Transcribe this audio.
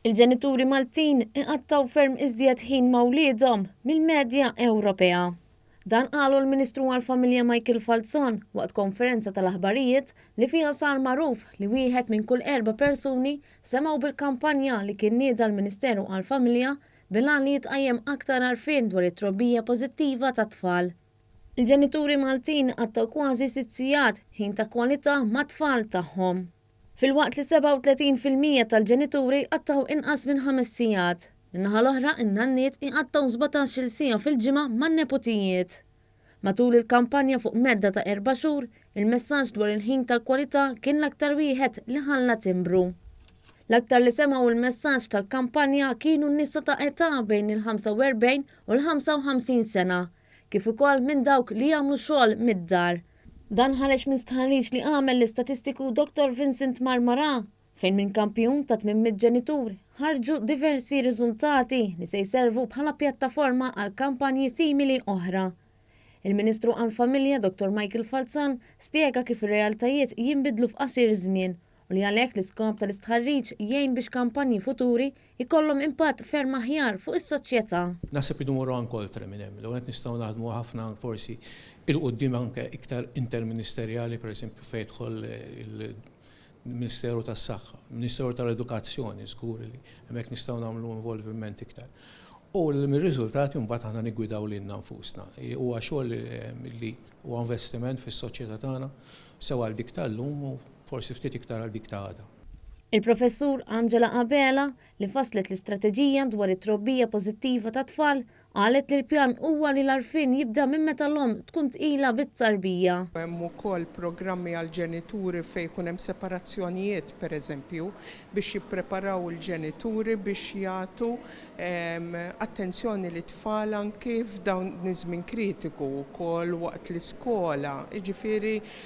Il-ġenituri Maltin iqattgħu ferm iżjed ħin ma' wliedhom mill-medja Ewropea. Dan qalu l-Ministru għall-Familja Michael Falzon waqt konferenza tal-aħbarijiet li fiha sar magħruf li wieħed minn kull erba' persuni semgħu bil-kampanja li kien nieda l-Ministeru għall-Familja bil-għan li jitqajjem aktar għarfien dwar it-trobbija pożittiva tat-tfal. Il-ġenituri Maltin qattgħu kważi sitt sigħat ħin ta' kwalità mat-tfal tagħhom. Filwaqt li 37 fil-mija tal-ġenituri jqattgħu inqas minn ħames sigħat, min-naħa l-oħra in-nanniet iqattgħu sbatax-il siegħa fil-ġimgħa man-neputijiet. Matul il-kampanja fuq medda ta' erba' xhur, il-messaġġ dwar il-ħin tal-kwalità kien l-aktar wieħed li ħalla timbru. L-aktar li semgħu l-messaġġ tal-kampanja kienu n-nisa ta' età bejn il-45 u l-55 sena, kif ukoll minn dawk li jagħmlu xogħol mid-dar. Dan ħareġ minn stħarriġ li għamel l-istatistiku Dottor Vincent Marmarà, fejn minn kampjun ta' 800 ġenitur ħarġu diversi riżultati li se jservu bħala pjattaforma għal kampanji simili oħra. Il-Ministru għall-Familja Dottor Michael Falzon spjega kif ir-realtajiet jinbidlu f'qasir żmien u li għalhekk l-iskop tal-istħarriġ jgħin biex kampanji futuri jkollhom impatt ferm aħjar fuq is-soċjetà. Naħseb irridu mmorru anke oltre minn hemm. L-ewwel nett nistgħu naħdmu ħafna forsi 'il quddiem anke iktar interministerjali, pereżempju fejn jidħol il-Ministeru tas-Saħħa, Ministeru tal-Edukazzjoni żgur li hemmhekk nistgħu nagħmlu involviment iktar. U mir-riżultati mbagħad aħna niggwidaw lilna nfusna. Huwa xogħol li huwa investiment fis-soċjetà tagħna sew għal dik tal-lum u Forsi ftit iktar għal dik ta' għada. Il-Professur Angela Abela, li fasslet l-istrateġija dwar it-trobbija pożittiva tat-tfal, qalet li l-pjan huwa li l-għarfien jibda minn meta l-omm tkun tqila bit-tarbija. Hemm ukoll programmi għall-ġenituri fejn ikun hemm separazzjonijiet, pereżempju, biex jippreparaw il-ġenituri biex jagħtu attenzjoni lit-tfal anki f'dawn iż-żmien kritiku, ukoll waqt l-iskola, jiġifieri